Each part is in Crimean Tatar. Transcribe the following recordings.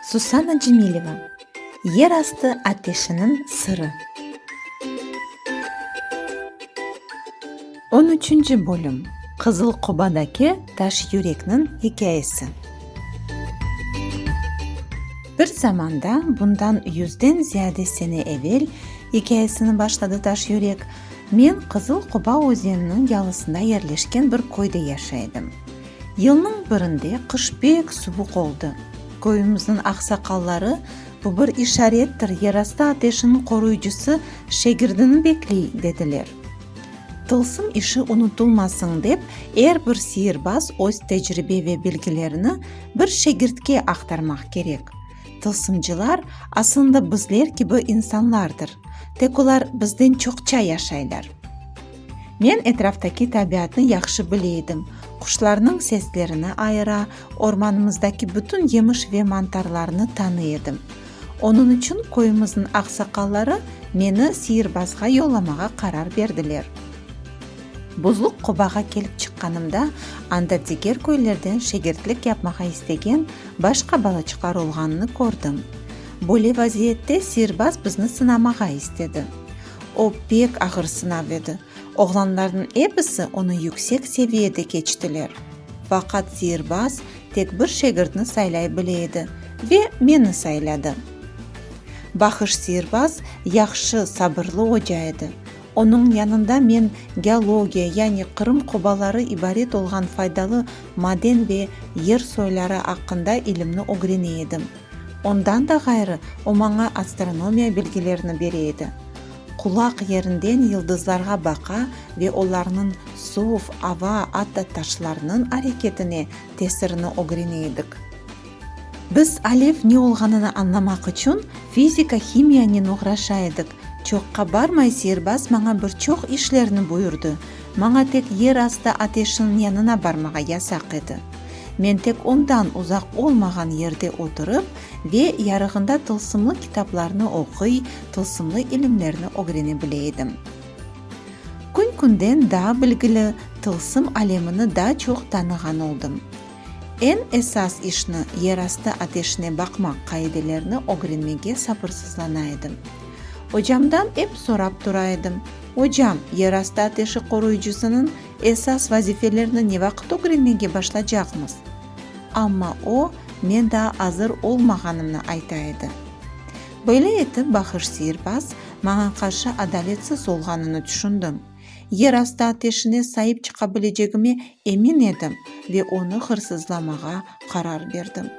Susana Cemileva, Yer astı ateşiniñ sırı. On üçünci bölüm, Qızıl qobadaki taş yürekniñ hikâyesi. Bir zamanda, bundan yüzden ziyade sene evel, ikâyesini başladı taş yürek, men Qızıl qoba özeniniñ yalısında yerleşken bir köyde yaşay edim. Yılnıñ birinde qış pek suvuq oldı. Köyümizniñ aqsaqalları, bu bir işarettir, yerastı ateşiniñ qoruyıcısı şegirdini bekley, dediler. Tılsım işi unutulmasın dep, er bir siyirbaz öz tecribe ve bilgilerini bir şegirtke aqtarmaq kerek. Tılsımcılar, asılında, bizler kibi insanlardır, tek olar bizden çoqça yaşaylar. Men etraftaki tabiatnı yahşı bile edim, quşlarnıñ seslerini ayıra, ormanımızdaki bütün yemiş ve mantarlarnı tanıy edim. Onıñ içün köyümizniñ aqsaqalları meni Siyirbazğa yollamağa qarar berdiler. Buzluq qobağa kelip çıqqanımda, anda diger köylerden şegirtlik yapmağa istegen başqa balaçıqlar olğanını kördim. Böyle vaziyette Siyirbaz bizni sınamağa istedi. O pek ağır sınav edi. Oğlanlarnıñ episi onı yüksek seviyede keçtiler. Faqat sihirbaz tek bir şegirtni saylay bile edi ve meni sayladı. Bahış sihirbaz yahşı, sabırlı oca edi. Onıñ yanında men geologiya, yani Qırım qobaları ibaret olğan faydalı maden ve yer soyları aqqında ilimni ögrene edim. Ondan da ğayrı, o maña astronomiya bilgilerini bere edi. Qulaq yerinden yıldızlarğa baqa ve olarnıñ suv, ava, atta taşlarnıñ areketine tesirini ögrene edik. Biz alev ne olğanını añlamaq içün fizika-himiyanen oğraşa edik. Çoqqa barmay sihirbaz maña bir çoq işlerni buyurdı. Maña tek yer astı ateşiniñ yanına barmağa yasaq edi. Men tek ondan uzaq olmağan yerde oturıp ve yarığında tılsımlı kitaplarnı oquy, tılsımlı ilimlerni ögrene bile edim. Kün-künden daa bilgili, tılsım alemini daa çoq tanığan oldım. Eñ esas işni, yerastı ateşine baqmaq qaidelerini ögrenmege sabırsızlana edim. Ocamdan ep sorap tura edim, Ocam, yerastı ateşi qoruyıcısınıñ Esas vazifelerni ne vaqıt ögrenmege başlacaqmız? Amma o, men daa azır olmağanımnı ayta edi. Böyle etip, Bahış Sihirbaz maña qarşı adaletsiz olğanını tüşündim. Yerastı ateşine saip çıqa bilecegime emin edim ve onı hırsızlamağa qarar berdim.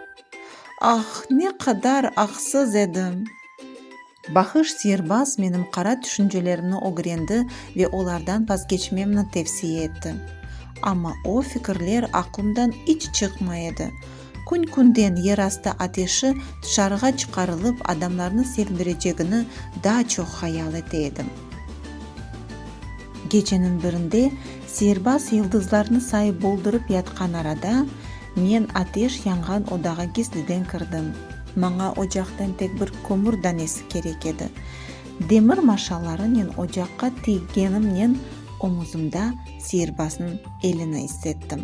Ah, ne qadar aqsız edim! Bahış sihirbaz menim qara tüşüncelerimni ögrendi ve olardan vazgeçmemni tevsiye etti. Amma o fikirler aqlımdan iç çıqmay edi. Kün-künden yerastı ateşi tışarığa çıqarılıp adamlarnı sevindirecegini daa çoq hayal ete edim. Geceniñ birinde sihirbaz yıldızlarnı sayıp boldurıp yatqan arada, Men ateş yanğan odağa gizliden kirdim. Maña ocaqtan tek bir kömür danesi kerek edi. Demir maşalarınen ocaqqa tiygenimnen omuzımda siyirbazniñ elini issettim.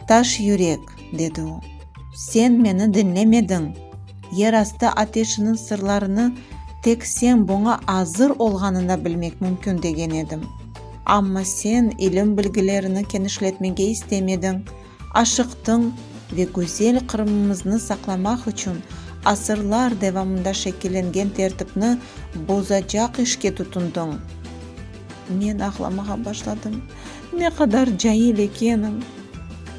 Taş yürek, dedi o, sen meni diñlemediñ! Yer astı ateşiniñ sırlarını tek sen buña azır olğanında bilmek mümkün degen edim. Amma sen ilim-bilgilerini kenişletmege istemediñ, aşıqtıñ ve gözel Qırımımıznı saqlamaq içün asırlar devamında şekillengen tertipni bozacaq işke tutundıñ. Men ağlamağa başladım. Ne qadar cail ekenim!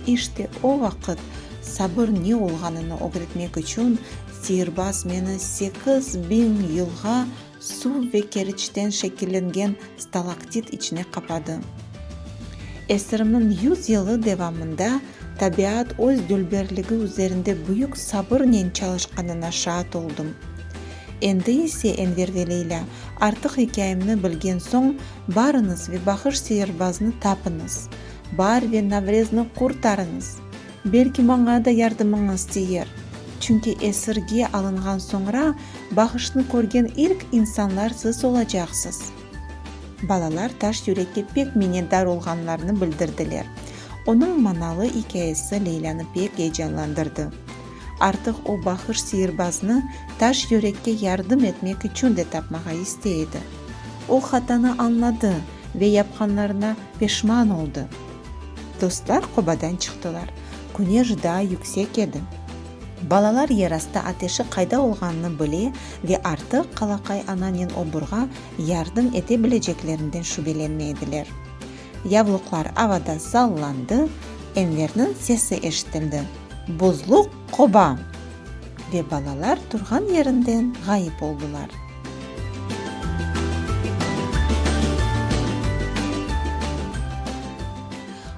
İşte o vaqıt sabır ne olğanını ögretmek içün sihirbaz meni sekiz biñ yılğa Suv ve keriçten şekillengen stalaktit içine qapadı. Esirimniñ yüz yılı devamında tabiat öz dülberligi üzerinde büyük sabırnen çalışqanına şaat oldım. Endi ise Enver ve Leyla, artıq ikâyemni bilgen soñ, barıñız ve Bahış Seyirbaznı tapıñız, Baar ve Navrezni qurtarıñız! Belki maña da yardımıñız tiyer, çünki esirge alınğan soñra bağışnı körgen ilk insanlar siz olacaqsız. Balalar taş yürekke pek minnetdar olğanlarını bildirdiler. Onıñ manalı ikâyesi Leylânı pek eyecanlandırdı. Artıq o bahış siyirbaznı taş yürekke yardım etmek içün de tapmağa istey edi. O hatanı añladı ve yapqanlarına peşman oldı. Dostlar qobadan çıqtılar. Küneş daa yüksek edi. Balalar yerastı ateşi qayda olğanını bile ve artıq Qalaqay ananen oburğa yardım ete bileceklerinden şübelenme ediler. Yavluqlar avada sallandı, Enverniñ sesi eşitildi, Buzluq qoba! Ve balalar turğan yerinden ğayıp oldılar.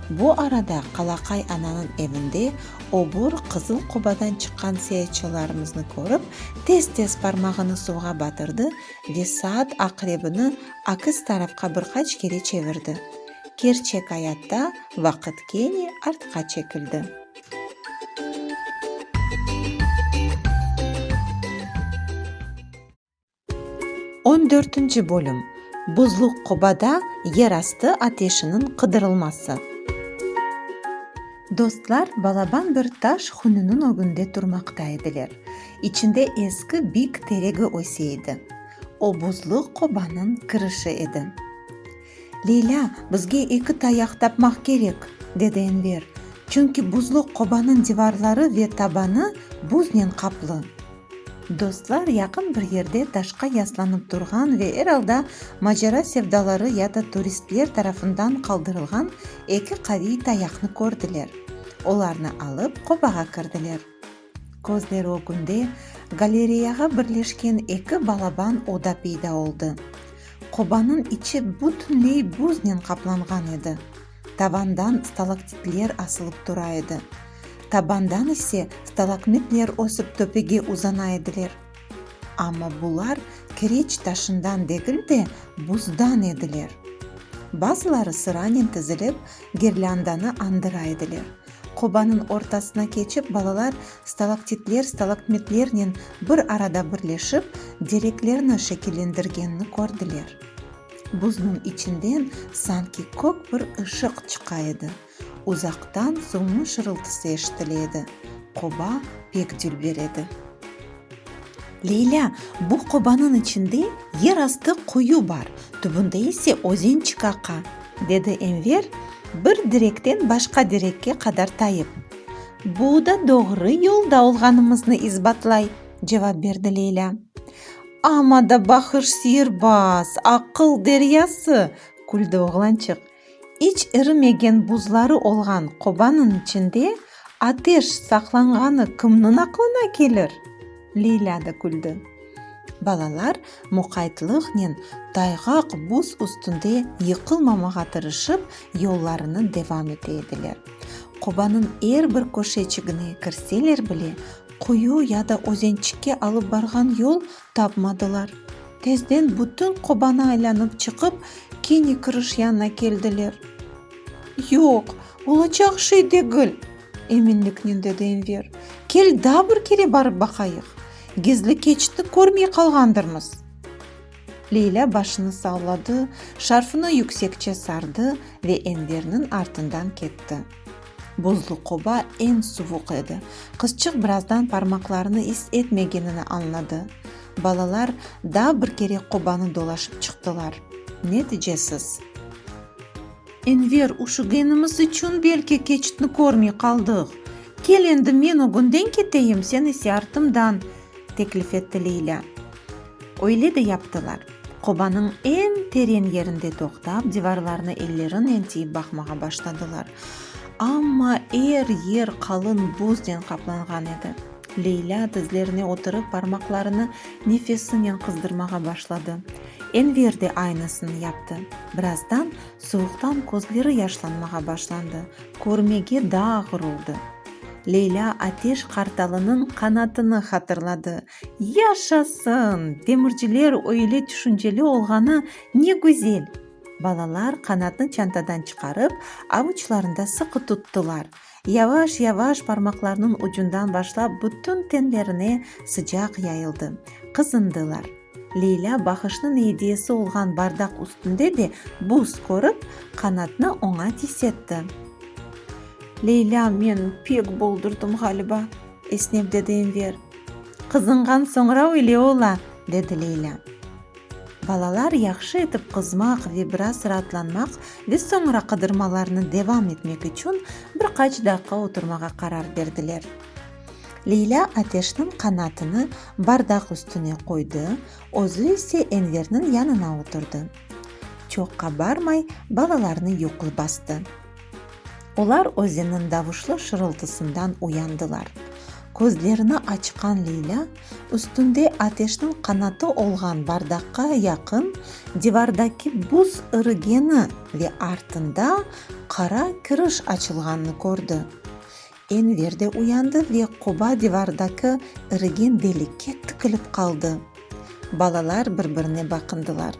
Bu arada Qalaqay ananıñ evinde obur Qızıl Qobadan çıqqan seyatçılarımıznı körip, tez-tez parmağını suvğa batırdı ve saat aqrebini akis tarafqa bir qaç kere çevirdi. Kerçek ayatta vaqıt kene artqa çekildi. On dörtünci bölüm Buzluq qobada yer astı ateşiniñ qıdırılması. Dostlar balaban bir taş hününiñ ögünde turmaqta ediler. İçinde eski bik teregi öse edi. O buzluq qobanıñ kirişi edi. Leylâ, bizge eki tayaq tapmaq kerek, dedi Enver, çünki buzlu qobanıñ divarları ve tabanı buznen qaplı. Dostlar yaqın bir yerde taşqa yaslanıp turğan ve er alda macera sevdaları ya da turistler tarafından qaldırılğan eki qaviy tayaqnı kördiler. Olarnı alıp, qobağa kirdiler. Közler ögünde galereyağa birleşken eki balaban oda peyda oldı. Qobanıñ içi bütünley büznen qaplanğan edi. Tavandan stalaktitler asılıp tura edi. Tabandan ise stalakmitler ösip töpege uzana ediler. Amma bular kireç taşından degil de, buzdan ediler. Bazıları sıranen tizilip, girlândanı andıra ediler. Qobanıñ ortasına keçip, balalar stalaktitler, stalaktmitlernen bir arada birleşip, dereklerni şekillendirgenini kördiler. Buznıñ içinden sanki kök bir ışıq çıqa edi. Uzaqtan suvnıñ şırıltısı eşitile edi. Qoba pek dülber edi. Leylâ, bu qobanıñ içinde yer astı quyu bar, tübünde ise özen çıqaqa, dedi Enver, bir direkten başqa direkke qadar tayıp. Bu da doğru yolda olğanımıznı isbatlay, cevap berdi Leylâ. Amma da bahış sirbaz, aqıl deryası! küldi oğlançıq. İç irimegen buzları olğan qobanıñ içinde ateş saqlanğanı kimniñ aqlına kelir? Leyla da küldi. Balalar muqaytlıqnen tayğaq buz üstünde yıqılmamağa tırışıp, yollarını devam ete ediler. Qobanıñ er bir köşeçigine kirseler bile, quyu ya da özençikke alıp barğan yol Tapmadılar. Tezden bütün qobanı aylanıp çıqıp, kene kırış yanına keldiler. Yoq, olacaq şey degil! eminliknen dedi Enver. Kel, daa bir kere barıp baqayıq. Gizli keçitni körmey qalğandırmız. Leylâ başını salladı, şarfını yüksekçe sardı ve Enverniñ artından ketti. Buzlu qoba eñ suvuq edi. Qızçıq birazdan parmaqlarını is etmegenini añladı. Balalar daa bir kere qobanı dolaşıp çıqtılar. Neticesiz. Enver, üşügenimiz içün belki keçitni körmey qaldıq. Kel endi men ögünden keteyim, sen ise artımdan, teklif etti Leylâ. Öyle de yaptılar. Qobanıñ eñ teren yerinde toqtap, divarlarına ellerinen tiyip baqmağa başladılar. Amma er yer qalın buzden qaplanğan edi. Leylâ dizlerine oturıp, parmaqlarını nefesinen qızdırmağa başladı. Enver de aynısını yaptı. Birazdan suvuqtan közleri yaşlanmağa başlandı, körmege daa ğırıldı. Leylâ Ateş qartalınıñ qanatını hatırladı. Yaşasın! Demirciler öyle tüşünceli olğanı ne güzel! Balalar qanatnı çantadan çıqarıp, avuçlarında sıqı tuttılar. Yavaş-yavaş parmaqlarnıñ ucundan başlap bütün tenlerine sıcaq yayıldı. Qızındılar. Leylâ Bahışnıñ ediyesi olğan bardaq üstünde de buz körip, qanatnı oña tisetti. Leylâ, men pek boldurdım, ğaliba. esnep dedi Enver. Qızınğan soñra öyle ola, dedi Leylâ. Balalar yahşı etip qızmaq ve biraz raatlanmaq ve soñra qıdırmalarını devam etmek içün bir qaç daqqa oturmağa qarar berdiler. Leylâ ateşniñ qanatını bardaq üstüne qoydı, özü ise Enverniñ yanına oturdı. Çoq qabarmay balalarnı yuqu bastı. Olar özeniñ davuşlı şırıltısından uyandılar. Közlerini açqan Leylâ, üstünde ateşniñ qanatı olğan bardaqqa yaqın divardaki buz irigeni ve artında qara kiriş açılğanını kördi. Enver de uyandı ve qoba divardaki irigen delikke tikilip qaldı. Balalar bir-birine baqındılar.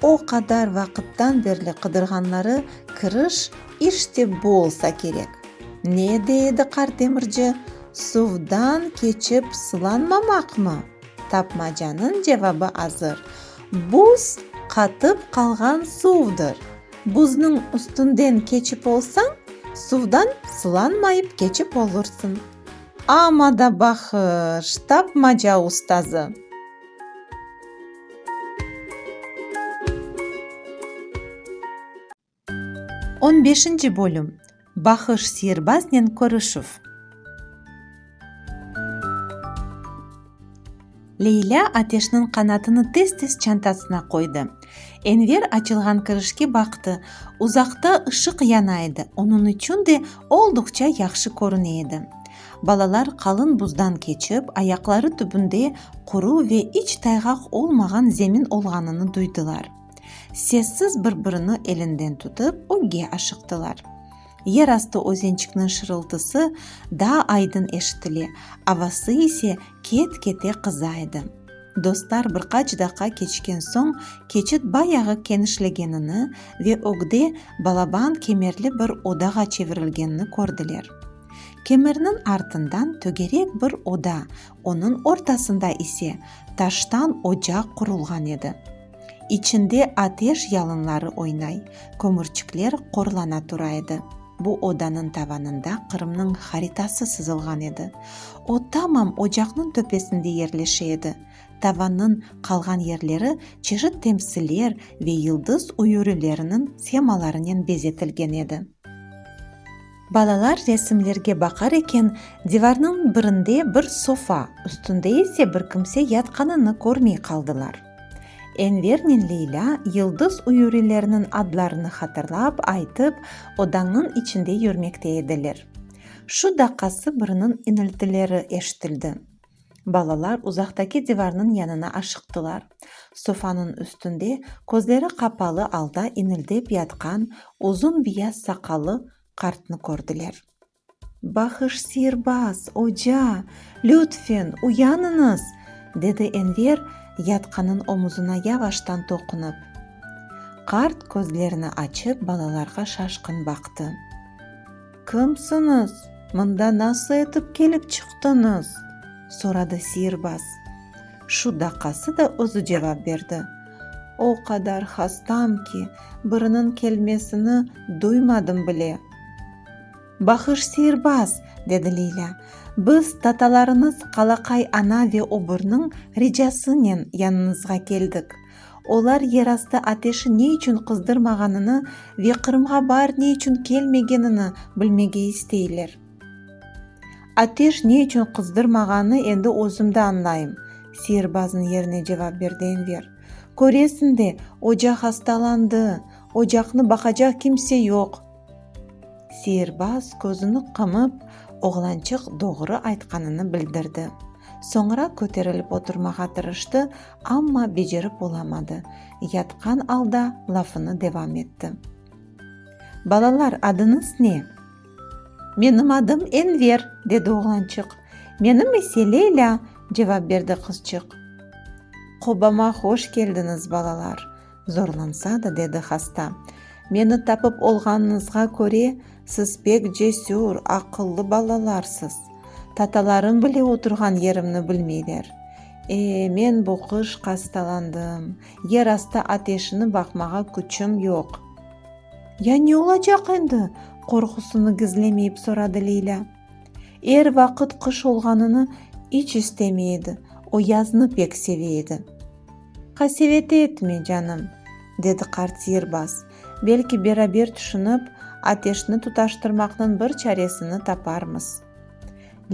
O qadar vaqıttan berli qıdırğanları kiriş işte bu olsa kerek. Ne de edi qart demirci, suvdan keçip sılanmamaqmı? Tapmacanıñ cevabı azır, buz qatıp qalğan suvdır! Buzniñ üstünden keçip olsañ, suvdan sılanmayıp keçip olursıñ. Amma da bahış, tapmaca ustazı. On beşinci bölüm. Bahış sihirbaznen körüşüv. Leylâ Ateşniñ qanatını tez-tez çantasına qoydı. Enver açılğan kirişke baqtı. Uzaqta ışıq yana edi, onıñ içün de olduqça yahşı körüne edi. Balalar qalın buzdan keçip, ayaqları tübünde quru ve iç tayğaq olmağan zemin olğanını duydılar. Sessiz bir-birini elinden tutıp, ögge aşıqtılar. Yer astı özençikniñ şırıltısı daa aydın eşitile, avası ise ket-kete qıza edi. Dostlar bir qaç daqqa keçken soñ keçit bayağı kenişlegenini ve ögde balaban kemerli bir odağa çevirilgenini kördiler. Kemerniñ artından tögerek bir oda, onıñ ortasında ise taştan ocaq qurulğan edi. İçinde ateş yalınları oynay, kömürçikler qorlana tura edi. Bu odanıñ tavanında Qırımnıñ haritası sızılğan edi. O tamam ocaqnıñ töpesinde yerleşe edi. Tavannıñ qalğan yerleri çeşit temsiller ve yıldız üyürileriniñ semalarınen bezetilgen edi. Balalar resimlerge baqar eken, divarnıñ birinde bir sofa, üstünde ise bir kimse yatqanını körmey qaldılar. Envernen Leylâ Yıldız uyurilerniñ adlarını hatırlap, aytıp, odanıñ içinde yürmekte ediler. Şu daqqası biriniñ iniltileri eşitildi. Balalar uzaqtaki divarnıñ yanına aşıqtılar. Sofanıñ üstünde közleri qapalı alda inildep yatqan uzun biyaz saqallı qartnı kördiler. Bahış sirbaz, oca! Lütfen, uyanıñız! dedi Enver, yatqanın omuzına yavaştan toqunıp. Qart közlerini açıp balalarğa şaşqın baqtı. Kimsiñiz? Mında nasıl etip kelip çıqtıñız? soradı sirbaz. Şu daqası da özü cevap berdi. O qadar hastam ki, biriniñ kelmesini duymadım bile. Bahış sirbaz, dedi Lilâ. Biz, tatalarıñız Qalaqay ana ve Oburnıñ ricasınen yanıñızğa keldik. Olar yerastı ateşi ne içün qızdırmağanını ve Qırımğa baar ne içün kelmegenini bilmege isteyler. Ateş ne içün qızdırmağanını endi özüm de añlayım, sirbazniñ yerine cevap berdi Enver. Köresiñ de, ocaq astalandı, ocaqnı baqacaq kimse yoq. Sihirbaz közüni qımıp, oğlançıq doğru aytqanını bildirdi. Soñra köterilip oturmağa tırıştı, amma becerip olamadı, yatqan alda lafını devam etti. Balalar, adıñız ne? Menim adım Enver, dedi oğlançıq. Menim ise Leylâ, cevap berdi qızçıq. Qobama hoş keldiñiz, balalar! Zorlansa da, dedi hasta, meni tapıp olğanıñızğa köre, siz pek cesür, aqıllı balalarsız. Tatalarım bile oturğan yerimni bilmeyler. E, men bu qış qastalandım, yer astı ateşini baqmağa küçüm yoq. Ya ne olacaq endi? qorqusını gizlemeyip soradı Leylâ. Er vaqıt qış olğanını iç istemey edi, o yaznı pek seve edi. Qasevet etme, canım, dedi qart sihirbaz, belki beraber tüşünip, ateşni tutaştırmaqnıñ bir çaresini taparmız.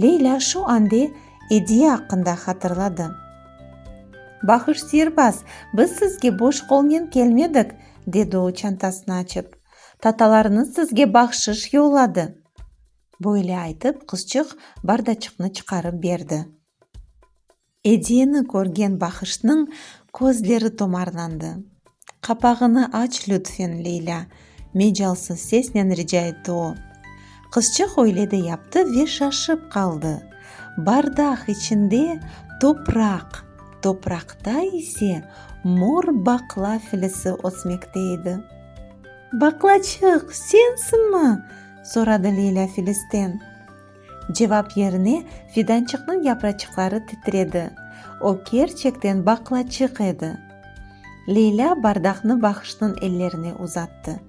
Leylâ şu ande ediye aqqında hatırladı. Bahuş sihirbaz, biz sizge boş qolnen kelmedik, dedi o çantasını açıp. Tatalarıñız sizge bahşış yolladı. Böyle aytıp, qızçıq bardaçıqnı çıqarıp berdi. Ediyeni körgen Bahışnıñ közleri tomarlandı. Qapağını aç, lütfen, Leylâ, mecalsız sesnen rica etti o. Qızçıq öyle de yaptı ve şaşıp qaldı. Bardaq içinde topraq, topraqta ise mor baqla filisi ösmekte edi. Baqlaçıq, sensinmi? soradı Leyla Filisten. Cevap yerine fidançıqnıñ yapraçıqları titredi. O kerçekten baqlaçıq edi. Leyla bardaqnı Bahışnıñ ellerine uzattı.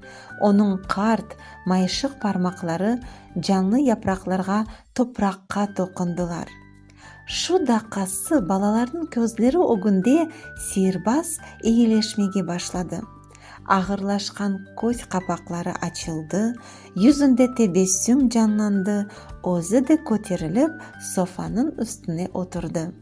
Onıñ qart, mayışıq parmaqları canlı yapraqlarğa, topraqqa toqundılar. Şu daqası balalarnıñ közleri ögünde seyirbaz eyileşmege başladı. Ağırlaşqan köz qapaqları açıldı, yüzünde tebessüm canlandı, özü de köterilip, sofanıñ üstüne oturdı.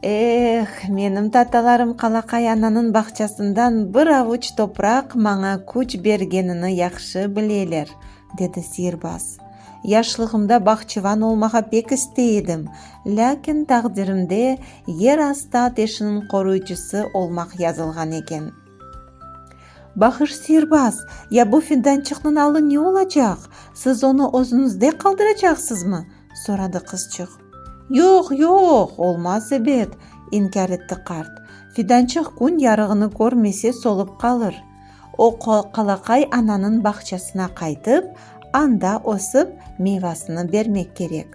Eh, menim tatalarım Qalaqay ananıñ bağçasından bir avuç topraq maña küç bergenini yahşı bileler, Dedi sihirbaz. Yaşlığımda bahçıvan olmağa pek istey edim, lâkin taqdirimde yer astı ateşiniñ qoruyıcısı olmaq yazılğan eken. Bahış sihirbaz, ya bu findançıqnıñ alı ne olacaq? Siz onı özüñizde qaldıracaqsızmı? soradı qızçıq. Yoq, yoq, olmaz, ebet, inkâr etti qart. Fidançıq kün yarığını körmese solıp qalır. O, qalaqay ananıñ bağçasına qaytıp, anda ösip, meyvasını bermek kerek.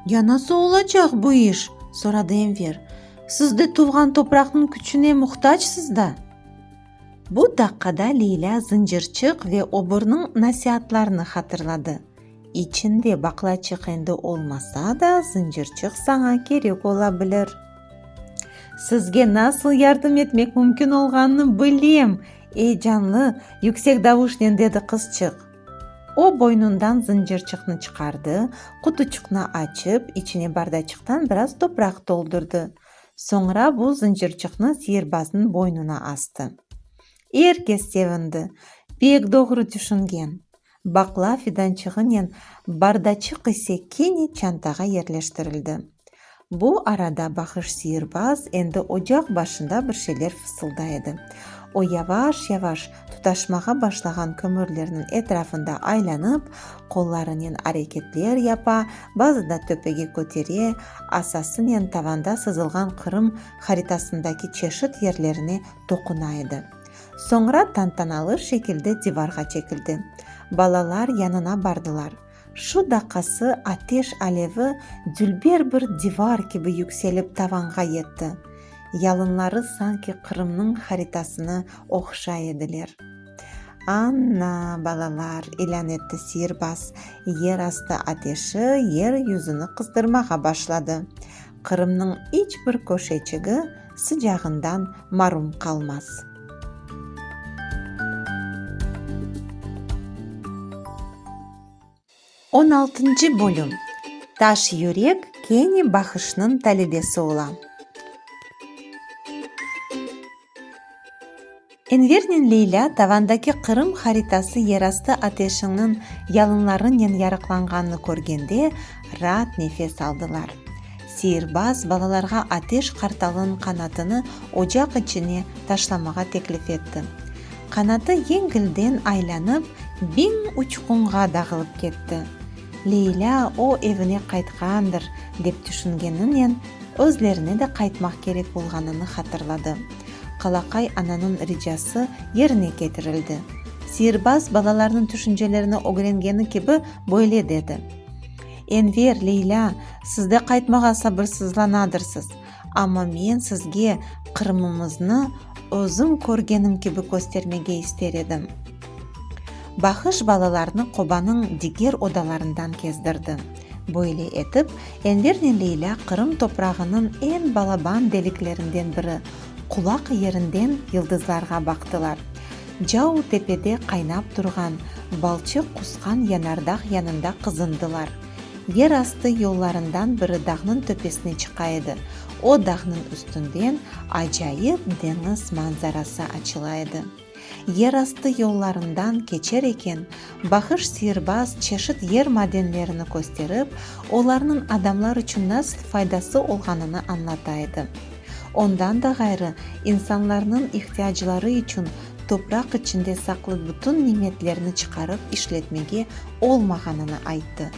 Ya nasıl olacaq bu iş? soradı Enver. Siz de tuvğan topraqnıñ küçüne muhtacsiz da! Bu daqqada Leylâ zıncırçıq ve obornıñ nasiatlarını hatırladı. İçinde baqlaçıq endi olmasa da, zıncırçıq saña kerek ola bilir. Sizge nasıl yardım etmek mümkün olğanını bilem! eyecanlı, yüksek davuşnen dedi qızçıq. O, boynundan zıncırçıqnı çıqardı, qutuçıqnı açıp, içine bardaçıqtan biraz topraq toldurdı. Soñra bu zıncırçıqnı seyirbaznıñ boynuna astı. Er kes sevindi. Pek doğru tüşüngen. Baqla fidançığınen bardaçıq ise kene çantağa yerleştirildi. Bu arada Bahış siyirbaz endi ocaq başında bir şeyler fısılday edi. O yavaş-yavaş tutaşmağa başlağan kömürlerniñ etrafında aylanıp, qollarınen areketler yapa, bazıda töpege kötere, asasınen tavanda sızılğan Qırım haritasındaki çeşit yerlerine toquna edi. Soñra tantanalı şekilde divarğa çekildi. Balalar yanına bardılar. Şu daqqası ateş alevi dülber bir divar kibi yükselip tavanğa yetti. Yalınları sanki Qırımnıñ haritasını oqşay ediler. Anna, balalar, ilân etti siyirbaz, yer astı ateşi yer yüzüni qızdırmağa başladı. Qırımnıñ iç bir köşeçigi sıcağından marum qalmaz. On altıncı bölüm Taş yürek kene Bahışnıñ talebesi ola. Envernen Leylâ tavandaki Qırım haritası yerastı ateşiñniñ yalınlarınen yarıqlanğanını körgende raat nefes aldılar. Seyirbaz balalarğa ateş qartalınıñ qanatını ocaq içine taşlamağa teklif etti. Qanatı yeñgilden aylanıp, biñ uçqunğa dağılıp ketti. Leylâ o evine qaytqandır, dep tüşüngeninen, özlerine de qaytmaq kerek bolğanını hatırladı. Qalaqay ananıñ ricası yerine ketirildi. Sihirbaz balalarnıñ tüşüncelerini ögrengeni kibi böyle dedi, Enver, Leylâ, siz de qaytmağa sabırsızlanadırsız. Amma men sizge Qırımımıznı özüm körgenim kibi köstermege ister edim. Bahış balalarnı qobanıñ diger odalarından kezdirdi. Böyle etip, Envernen Leylâ Qırım toprağınıñ eñ balaban deliklerinden biri, qulaq yerinden yıldızlarğa baqtılar. Cao tepede qaynap turğan, balçıq qusqan yanardağ yanında qızındılar. Yer astı yollarından biri dağnıñ töpesine çıqa edi, o dağnıñ üstünden acayip deñiz manzarası açıla edi. Yer astı yollarından keçer eken, Bahış Sihirbaz çeşit yer madenlerini kösterip, olarnıñ adamlar içün nasıl faydası olğanını añlata edi. Ondan da ğayrı, insanlarnıñ ihtiyacları içün topraq içinde saqlı bütün nimetlerni çıqarıp işletmege olmağanını ayttı.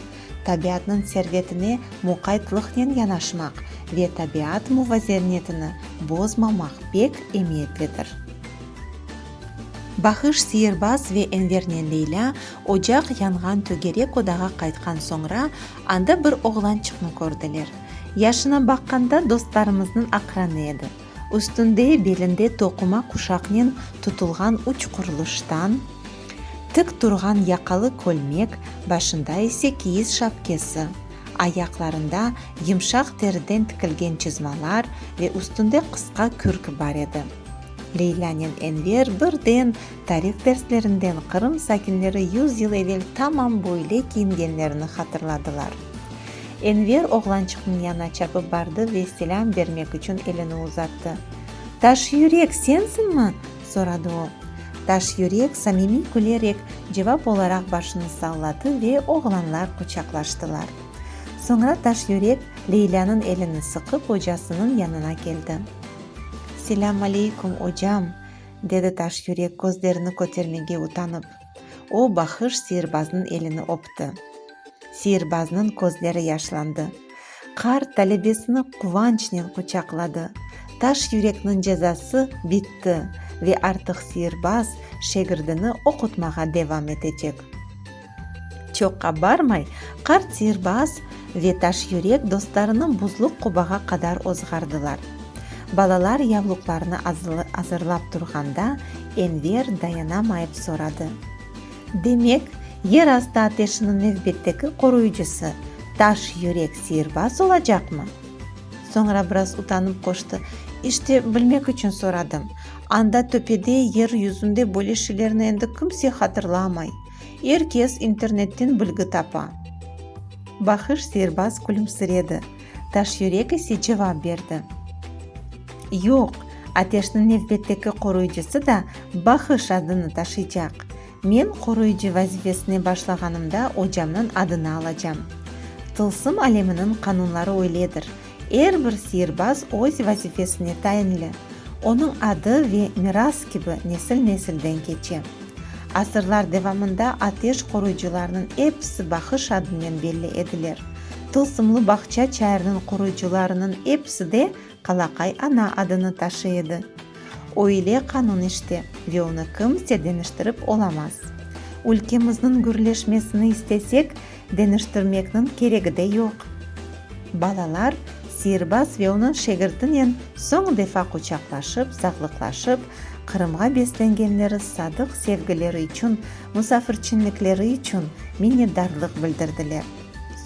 Tabiatnıñ servetine muqaytlıqnen yanaşmaq ve tabiat muvazernetini bozmamaq pek emiyetlidir. Bahış Siyerbaz ve Envernen Leylâ ocaq yanğan tögerek odağa qaytqan soñra, anda bir oğlançıqnı kördiler. Yaşına baqqanda dostlarımıznıñ aqranı edi. Üstünde, belinde toquma quşaqnen tutulğan üç qurluştan tik turğan yaqalı kölmek, başında ise kiyiz şapkesi, ayaqlarında yımşaq teriden tikilgen çizmalar ve üstünde qısqa kürk bar edi. Leylânen Enver birden Tarih derslerinden Qırım sakinleri yüz yıl evel tamam böyle kiyingenlerini hatırladılar. Enver oğlançıqnıñ yanına çapıp bardı ve selâm bermek içün elini uzattı. Taş yürek, sensinmi? soradı o. Taş yürek samimiy külerek cevap olaraq başını salladı ve oğlanlar quçaqlaştılar. Soñra Taş yürek Leylânıñ elini sıqıp ocasınıñ yanına keldi. Selâm aleykum, ocam! Dedi Taş yürek közlerini kötermege utanıp. O, Bahış seyirbaznıñ elini öpti. Seyirbaznıñ közleri yaşlandı. Qart talebesini quvançnen quçaqladı. Taş yürekniñ cezası bitti ve artıq seyirbaz şegirdini oqutmağa devam etecek. Çoqqa barmay, qart sirbaz ve taşyürek dostlarını buzluq qobağa qadar ozğardılar. Balalar yavluqlarını azırlap turğanda, Enver dayanamayıp soradı, Demek, yer astı ateşiniñ nevbetteki qoruyıcısı taşyürek sirbaz olacaqmı? Soñra biraz utanıp qoştı, İşte, bilmek içün soradım. Anda töpede, yer yüzünde böyle şeylerni endi kimse hatırlamay. Er kes internetten bilgi tapa. Bahış serbaz külümsiredi, Taşyürek ise cevap berdi. Yoq, Ateşniñ nevbetteki qoruyıcısı da Bahış adını taşıycaq. Men qoruyıcı vazifesine başlağanımda ocamnıñ adını alacam. Tılsım aleminiñ qanunları öyledir, Er bir sirbaz öz vazifesine tayinli, onıñ adı ve miras kibi nesil-nesilden keçe. Asırlar devamında ateş qoruyıcılarnıñ episi bahış adınen belli ediler. Tılsımlı bağça çayırnıñ qoruyıcılarınıñ episi de Qalaqay ana adını taşıy edi. O ile qanun işte ve onı kimse deñiştirip olamaz. Ülkemizniñ gürleşmesini istesek, Deñiştirmekniñ keregi de yoq. Balalar sirbaz ve onıñ şegirtinen soñ defa quçaqlaşıp, sağlıqlaşıp, Qırımğa beslengenleri sadıq sevgileri içün, musafirçinlikleri içün minnetdarlıq bildirdiler.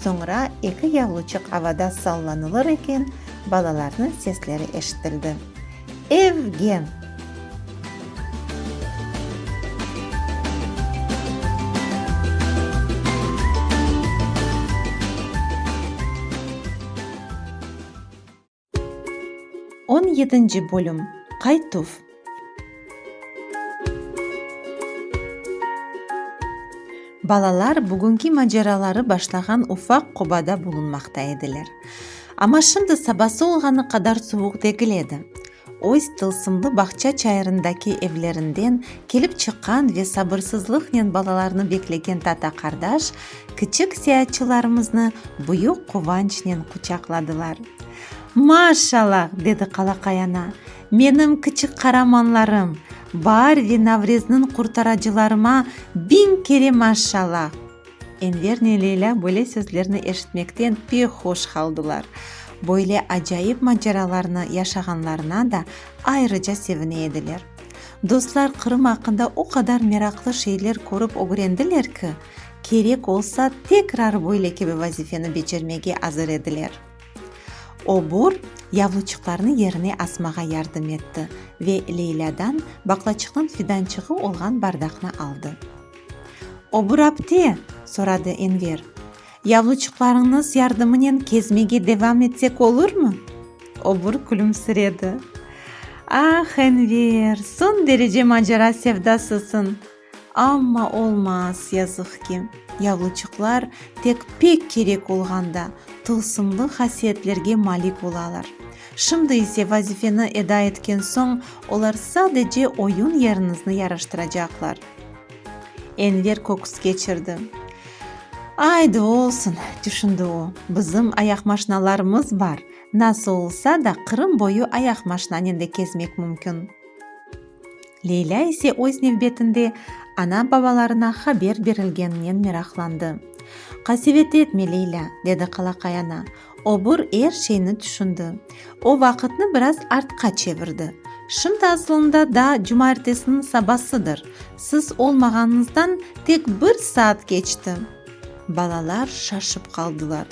Soñra eki yavruçıq avada sallanılır eken, balalarnıñ sesleri eşitildi. Evgen. On yedinci bölüm, Qaytuv. Balalar bugünki maceraları başlağan ufaq qobada bulunmaqta ediler. Amma şimdi sabası olğanı qadar suvuq degil edi. Öz tılsımlı bağça çayırındaki evlerinden kelip çıqqan ve sabırsızlıqnen balalarını beklegen tata qardaş kiçik seyaatçılarımıznı büyük quvançnen quçaqladılar. Maşallah! dedi qalaqay ana. Menim kiçik qaramanlarım! Baar ve Navrezniñ qurtaracılarıma biñ kere maşallah! Envernen Leyla böyle sözlerni eşitmekten pek hoş qaldılar. Böyle acayip maceralarnı yaşağanlarına da ayrıca sevine ediler. Dostlar Qırım aqqında o qadar meraqlı şeyler körip ögrendiler ki, kerek olsa tekrar böyle kibi vazifeni becermege azır ediler. Obur, yavluçıqlarnı yerine asmağa yardım etti ve Leylâdan baqlaçıqnıñ fidançığı olğan bardaqnı aldı. O bir apte? soradı Enver. Yavluçıqlarıñnız yardımınen kezmege devam etsek olurmı? Obur külümsiredi. Ah, Enver, soñ derece macara sevdasısıñ. Amma olmaz, yazıq ki, yavluçıqlar tek pek kerek olğanda tılsımlı hasiyetlerge malik olalar. Şimdi ise vazifeni eda etken soñ olar sadece oyun yeriñizni yaraştıracaqlar. Enver köküs keçirdi. Aydı, olsun, tüşündi o. Bizim ayaqmaşnalarımız bar, nasıl olsa da Qırım boyu ayaqmaşnanen de kezmek mümkün. Leylâ ise öz nevbetinde ana-babalarına haber berilgeninen meraqlandı. Qasevet etme, Leylâ, dedi qalaqay ana, Obur er şeyni tüşündi. O vaqıtnı biraz artqa çevirdi. Şimdi asılında daa cumartesiniñ sabasıdır. Siz olmağanıñızdan tek bir saat keçti. Balalar şaşıp qaldılar.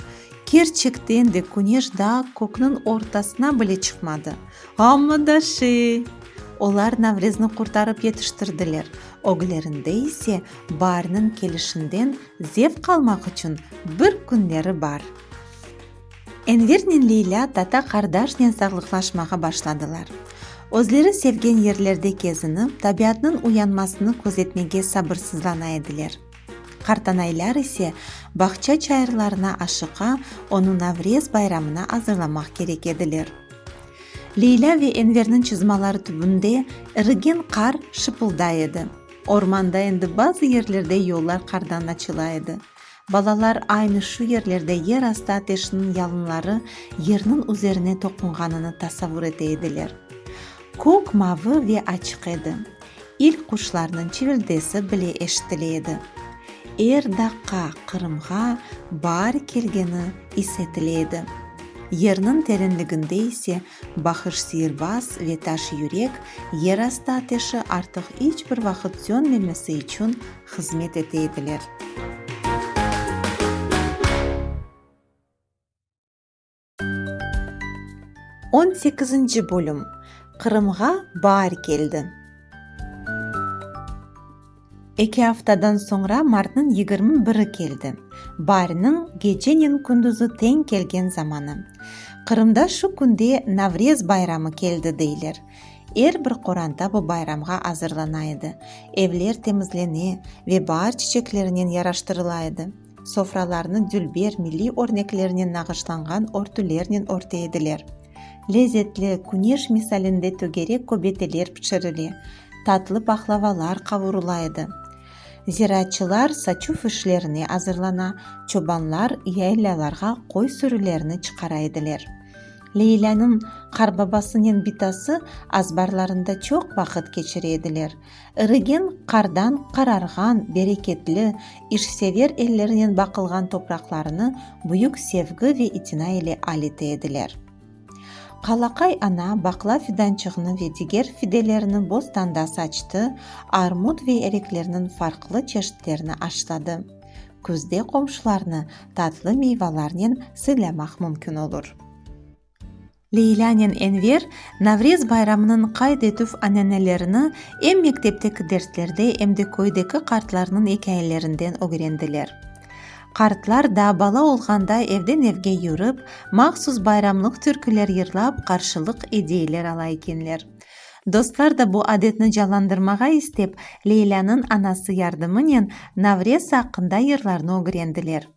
Kerçekten de küneş daa kökniñ ortasına bile çıqmadı. Amma da şey! Olar Navrezni qurtarıp yetiştirdiler, öglerinde ise baarniñ kelişinden zevq almaq içün bir künleri bar. Envernen Leylâ tata qardaşnen sağlıqlaşmağa başladılar. Özleri sevgen yerlerde kezinip, tabiatnıñ uyanmasını közetmege sabırsızlana ediler. Qartanaylar ise bağça çayırlarına aşıqa onı Navrez bayramına azırlamaq kerek ediler. Leylâ ve Enverniñ çızmaları tübünde irigen qar şıpılday edi. Ormanda endi bazı yerlerde yollar qardan açıla edi. Balalar aynı şu yerlerde yer astı ateşiniñ yalınları yerniñ üzerine toqunğanını tasavur ete ediler. Kök mavı ve açıq edi. İlk quşlarnıñ çivildesi bile eşitile edi. Er daqqa Qırımğa baar kelgeni is etile edi. Yerniñ terenliginde ise Bahış sihirbaz ve taş yürek yerastı ateşi artıq iç bir vaqıt sönmemesi içün hızmet ete ediler. On sekizinci bölüm Qırımğa baar keldi. Eki aftadan soñra martnıñ yigirmi biri keldi, bariniñ gecenen kündizi teñ kelgen zamanı. Qırımda şu künde Navrez bayramı keldi deyler. Er bir qoranta bu bayramğa azırlana edi, evler temizlene ve baar çiçeklerinen yaraştırıla edi. Sofralarnı dülber milliy örneklernen nağışlanğan örtülernen örte ediler. Lezetli, küneş misalinde tögerek köbeteler pişirile, tatlı pahlavalar qavurula edi. Ziraatçılar saçuv işlerine azırlana, çobanlar yaylâlarğa qoy sürülerini çıqara ediler. Leylânıñ qarbabasınen bitası azbarlarında çoq vaqıt keçire ediler. Irigen qardan qararğan, bereketli, işsever ellerinen baqılğan topraqlarını büyük sevgi ve itina ile alite ediler. Qalaqay ana baqla fidançığını ve diger fidelerni bostanda saçtı, armut ve ereklerniñ farqlı çeşitlerini aşladı. Küzde qomşularnı tatlı meyvalarnen sıylamaq mümkün olur. Leylânen Enver Navrez bayramınıñ qayd etüv ananelerini em mektepteki derslerde, em de köydeki qartlarnıñ ikâyelerinden ögrendiler. Qartlar daa bala olğanda evden evge yürip, mahsus bayramlıq türküler yırlap, qarşılıq ediyler ala ekenler. Dostlar da bu adetni canlandırmağa istep, Leylânıñ anası yardımınen Navrez aqqında yırlarnı ögrendiler.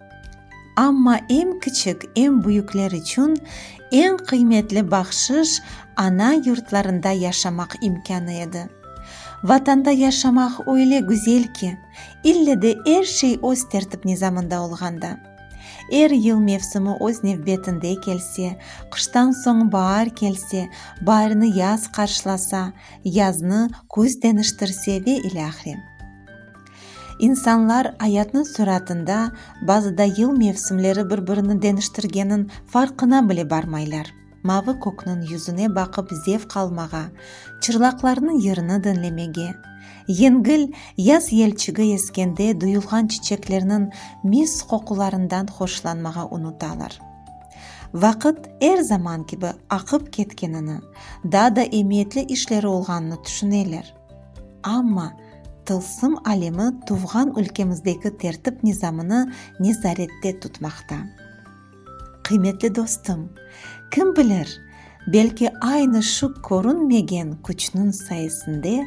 Amma em kiçik, em büyükler içün eñ qıymetli bahşış ana yurtlarında yaşamaq imkânı edi. Vatanda yaşamaq öyle güzel ki, ille de er şey öz tertip-nizamında olğanda. Er yıl mevsimi öz nevbetinde kelse, qıştan soñ baar kelse, baarnı yaz qarşılasa, yaznı küz deñiştirse ve ilâhre. İnsanlar ayatnıñ suratında bazıda yıl mevsimleri bir-birini deniştirgenniñ farqına bile barmaylar, mavı kökniñ yüzüne baqıp zevq almağa, çırlaqlarnıñ yırını diñlemege, yengil yaz yelçigi eskende duyulğan çiçeklerniñ mis qoqularından hoşlanmağa unutalar. Vaqıt er zaman kibi aqıp ketkenini, daa da emiyetli işleri olğanını tüşüneler. Amma, tılsım alemi tuvğan ülkemizdeki tertip-nizamını nezarette tutmaqta. Qıymetli dostum, kim bilir, belki aynı şu körünmegen küçniñ sayesinde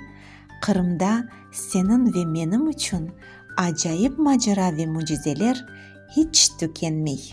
Qırımda seniñ ve menim içün acayip macera ve mücizeler hiç tükenmey.